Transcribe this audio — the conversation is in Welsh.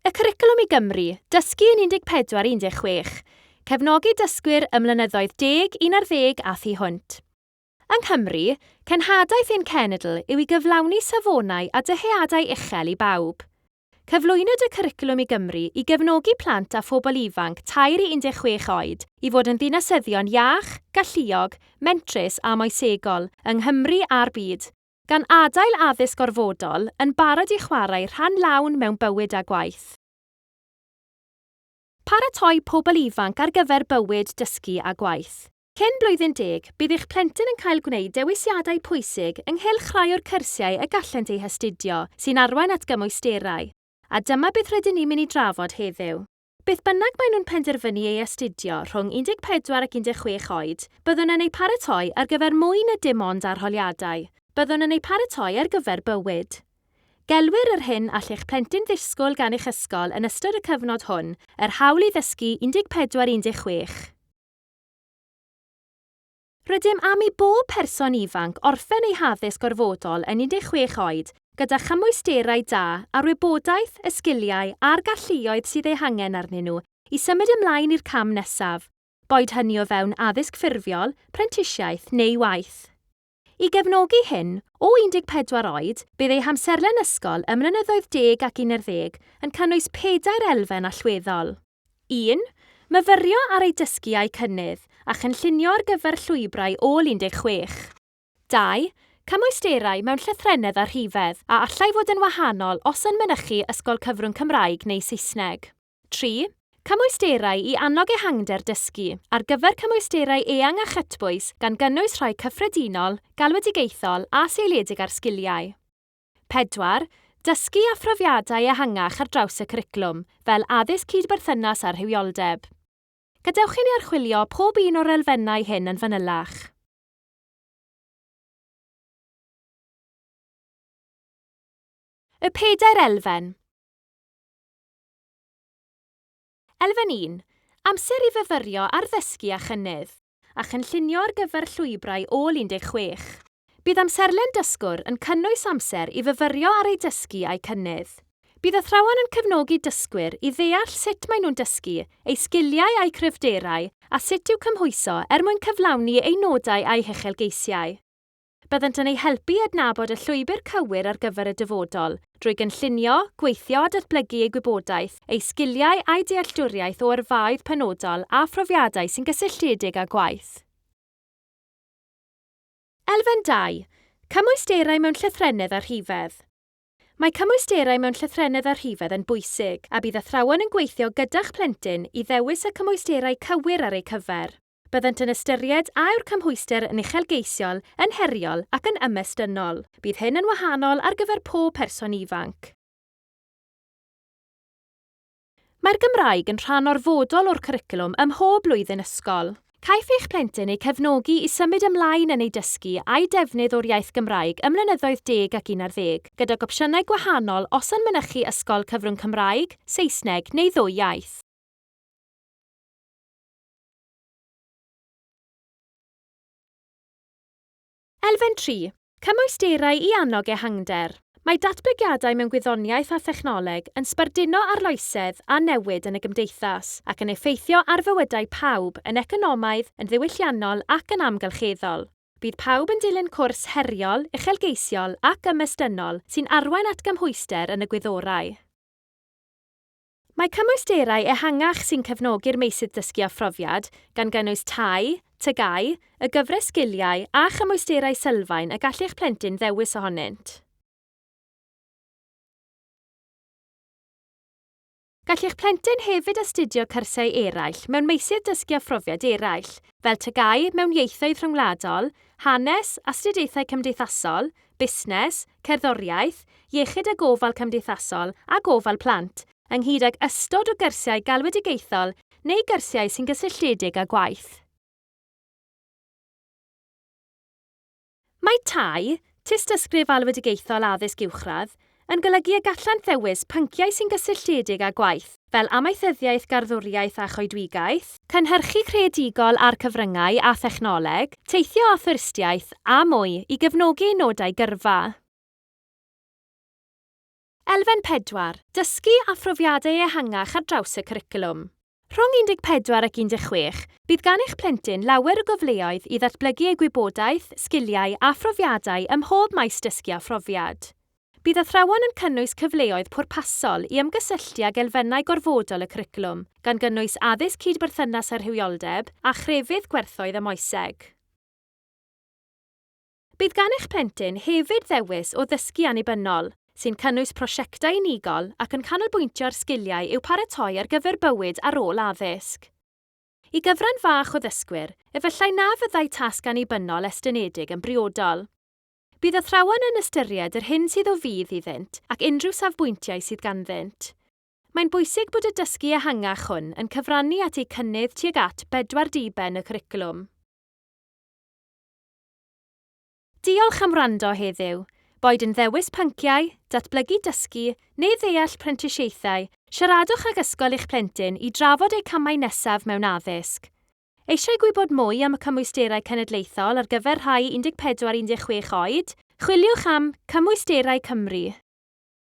Y Cwricwlwm i Gymru, Dysgu yn 14 i 16, Cefnogi dysgwyr ym mlynyddoedd deg, un ar ddeg a thu hwnt. Yng Nghymru, cenhadaeth ein cenedl yw i gyflawni safonau a dyheadau uchel i bawb. Cyflwynwyd y Cwricwlwm i Gymru i gefnogi plant a phobl ifanc tair i 16 oed i fod yn ddinasyddion iach, galluog, mentrus a moesegol, yng Nghymru a'r byd. gan adael addysg orfodol yn barod i chwarae rhan lawn mewn bywyd a gwaith. Paratoi pobl ifanc ar gyfer bywyd, dysgu a gwaith. Cyn blwyddyn deg, bydd eich plentyn yn cael gwneud dewisiadau pwysig ynghylch rhai o'r cyrsiau y gallent eu hastudio sy'n arwain at gymwysterau, a dyma beth rydyn ni'n mynd i drafod heddiw. Beth bynnag maen nhw'n penderfynu ei astudio rhwng 14 ac 16 oed, byddwn yn eu paratoi ar gyfer mwy na dim ond arholiadau, byddwn yn eu paratoi ar gyfer bywyd. Gelwir yr hyn all eich plentyn ddisgwyl gan eich ysgol yn ystod y cyfnod hwn yr Hawl i Ddysgu 14 i 16. Rydym am i bob person ifanc orffen eu haddysg gorfodol yn 16 oed gyda chymwysterau da a'r wybodaeth, y sgiliau a'r galluoedd sydd eu hangen arnyn nhw i symud ymlaen i'r cam nesaf, boed hynny o fewn addysg ffurfiol, prentisiaeth neu waith. I gefnogi hyn, o 14 oed, bydd eu hamserlen ysgol ym mlynyddoedd deg ac unarddeg yn cynnwys pedair elfen allweddol. 1. Myfyrio ar ei dysgu a'i cynnydd, a chynllunio ar gyfer llwybrau ôl 16. 2. Cymwysterau mewn llythrennedd a rhifedd, a allai fod yn wahanol os yn mynychu Ysgol Cyfrwng Cymraeg neu Saesneg. 3. Cymwysterau i annog ehangder dysgu, ar gyfer cymwysterau eang a chytbwys, gan gynnwys rhai cyffredinol, galwedigaethol a seiliedig ar sgiliau. 4, Dysgu a phrofiadau ehangach ar draws y cwricwlwm, fel Addysg Cyd-berthynas a Rhywioldeb. Gadewch i ni archwilio pob un o'r elfennau hyn yn fanylach. Y pedair elfen. Elfen un, Amser i fyfyrio ar ddysgu a chynnydd, a chynllunio ar gyfer llwybrau ôl 16. Bydd amserlen dysgwr yn cynnwys amser i fyfyrio ar eu dysgu a'u cynnydd. Bydd athrawon yn cefnogi dysgwyr i ddeall sut maen nhw'n dysgu, eu sgiliau a'u cryfderau, a sut i'w cymhwyso er mwyn cyflawni eu nodau a'u huchelgeisiau. Byddant yn eu helpu i adnabod y llwybr cywir ar gyfer y dyfodol, drwy gynllunio, gweithio a datblygu eu gwybodaeth, eu sgiliau a'u dealltwriaeth o yrfaoedd penodol a phrofiadau sy'n gysylltiedig â gwaith. Elfen dau, Cymwysterau mewn llythrennedd a rhifedd Mae cymwysterau mewn llythrennedd a rhifedd yn bwysig, a bydd athrawon yn gweithio gyda'ch plentyn i ddewis y cymwysterau cywir ar eu cyfer. Byddant yn ystyried a yw'r cymhwyster yn uchelgeisiol, yn heriol ac yn ymestynnol. Bydd hyn yn wahanol ar gyfer pob person ifanc. Mae'r Gymraeg yn rhan orfodol o'r cwricwlwm ym mhob blwyddyn ysgol. Caiff eich plentyn eu cefnogi i symud ymlaen yn eu dysgu a'u defnydd o'r iaith Gymraeg ym mlynyddoedd deg ac un ar ddeg, gydag opsiynau gwahanol os yn mynychu ysgol cyfrwng Cymraeg, Saesneg neu ddwy iaith. Elfen 3, Cymwysterau i annog ehangder. Mae datblygiadau mewn gwyddoniaeth a thechnoleg yn sbarduno arloesedd a newid yn y gymdeithas, ac yn effeithio ar fywydau pawb yn economaidd, yn ddiwylliannol ac yn amgylcheddol. Bydd pawb yn dilyn cwrs heriol, uchelgeisiol ac ymestynnol sy'n arwain at gymhwyster yn y gwyddorau. Mae cymwysterau ehangach sy'n cefnogi'r meysydd dysgu a phrofiad, gan gynnwys TAI, TGAU, y gyfres sgiliau, a chymwysterau sylfaen y gall eich plentyn ddewis ohonynt. Gall eich plentyn hefyd astudio cyrsiau eraill mewn meysydd dysgu a phrofiad eraill, fel TGAU mewn ieithoedd rhyngwladol, hanes, astudiaethau cymdeithasol, busnes, cerddoriaeth, iechyd a gofal cymdeithasol a gofal plant, ynghyd ag ystod o gyrsiau galwedigaethol neu gyrsiau sy'n gysylltiedig â gwaith. Mae tai, tystysgrif alwedigaethol addysg uwchradd, yn golygu y gallant ddewis pynciau sy'n gysylltiedig â gwaith, fel amaethyddiaeth garddwriaeth a choedwigaeth, cynhyrchu creadigol a'r cyfryngau a thechnoleg, teithio a thwristiaeth, a mwy, i gefnogi eu nodau gyrfa. Elfen pedwar, Dysgu a phrofiadau ehangach ar draws y cwricwlwm. Rhwng 14 ac 16, bydd gan eich plentyn lawer o gyfleoedd i ddatblygu ei gwybodaeth, sgiliau a phrofiadau ym mhob maes dysgu a phrofiad. Bydd athrawon yn cynnwys cyfleoedd pwrpasol i ymgysylltu ag elfennau gorfodol y cwricwlwm, gan gynnwys addysg cyd-berthynas a rhywioldeb, a chrefydd gwerthoedd a moeseg. Bydd gan eich plentyn hefyd ddewis o ddysgu annibynnol, sy'n cynnwys prosiectau unigol ac yn canolbwyntio ar sgiliau i'w paratoi ar gyfer bywyd ar ôl addysg. I gyfran fach o ddysgwyr, efallai na fyddai tasg annibynnol estynedig yn briodol. Bydd athrawon yn ystyried yr hyn sydd o fudd iddynt ac unrhyw safbwyntiau sydd ganddynt. Mae'n bwysig bod y dysgu ehangach hwn yn cyfrannu at eu cynnydd tuag at bedwar diben y cwricwlwm. Diolch am wrando heddiw. Boed yn ddewis pynciau, datblygu dysgu, neu ddeall prentisiaethau, siaradwch ag ysgol eich plentyn i drafod eu camau nesaf mewn addysg. Eisiau gwybod mwy am y Cymwysterau Cenedlaethol ar gyfer rhai 14-16 oed? Chwiliwch am Cymwysterau Cymru.